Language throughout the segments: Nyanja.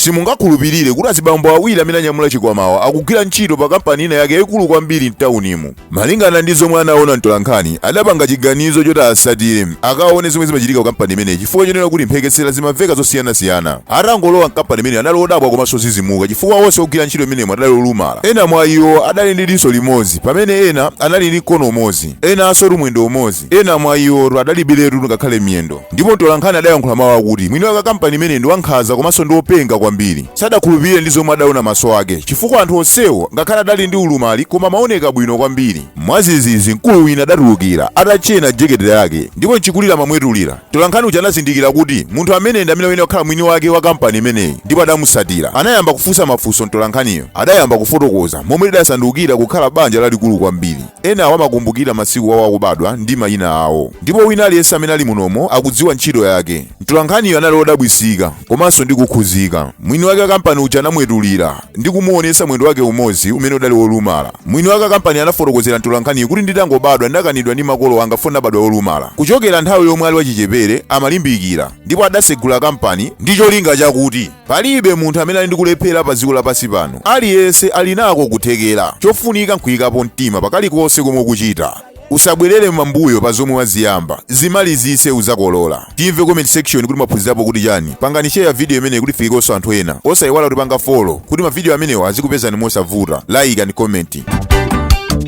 Simungakhulupirire kuti azibambo awiri amene anyamula chikwamawa akugwira ntchito pa kampani ina yake yaikulu kwambiri m'taunimu. Malingana ndi zomwe anaona mtolankhani, adapanga chiganizo choti asatire akaone zomwe zimachitika kukampani imeneyi chifukwa chonena kuti mphekesera zimamveka zosiyanasiyana. Atangolowa mkampani imeneyi anali odabwa komanso ozizimuka chifukwa onse ogwira ntchito imenemo adali olumala. Ena mwa iwo adali ndi diso limodzi, pamene ena anali ndi mkono umodzi, enansotu mwendo umodzi. Ena mwa iwotu adalibiretu ngakhale miyendo. Ndipo mtolankhani adayankhula mawu akuti mwini wake wa kampani imeneyi ndi wankhanza komanso ndi wopenga kwambiri. Sadakhulupirire ndi zomwe adaona maso ake chifukwa anthu onsewo ngakhale adali ndi ulumali koma amaoneka bwino kwambiri. Mwazizizi mkulu wina adatulukira atatchena jekete yake ndipo mchikulire amamwetulira. Mtolankhani uja anazindikira kuti munthu ameneyi ndi amene wayenera kukhala mwini wake wa kampani imeneyi ndipo adamutsatira. Anayamba kufunsa mafunso mtolankhaniyo adayamba kufotokoza momwe lidasandukira kukhala banja lalikulu kwambiri. Enawo amakumbukira masiku awo akubadwa ndi mayina awo. Ndipo wina aliyense amene ali munomo akudziwa ntchito yake. Mtolankhaniyo anali odabwisika, komanso ndi kukhuzika. Mwini wake wa kampani uja anamwetulira ndi kumuonesa mwendo wake umodzi umene udali wolumala. Mwini wake wa kampaniyo anafotokozera mtolankhaniyo kuti nditangobadwa ndakanidwa ndi makolo anga chifukwa ndinabadwa wolumala. Kuchokera nthawi yomwe ali wachichepere amalimbikira ndipo adasegula kampani ndi cholinga chakuti. Palibe munthu amene ali ndi kulephera pa dziko lapansi pano. Aliyense ali nako kuthekera. Chofunika nkuyikapo mtima pa kalikonse komwe ukuchita. Usabwerere m'mbuyo pa zomwe waziyamba. Zimalizitse udzakolola. Timve comment section kuti mwaphunzirapo kuti chani. Pangani share video imeneyi kuti ifikekonso anthu ena. Osayiwala kutipanga follow kuti ma video amenewa azikupezani mosavuta. Like and comment.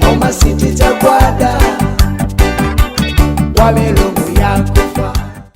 Koma sitichagwada kwa milungu yako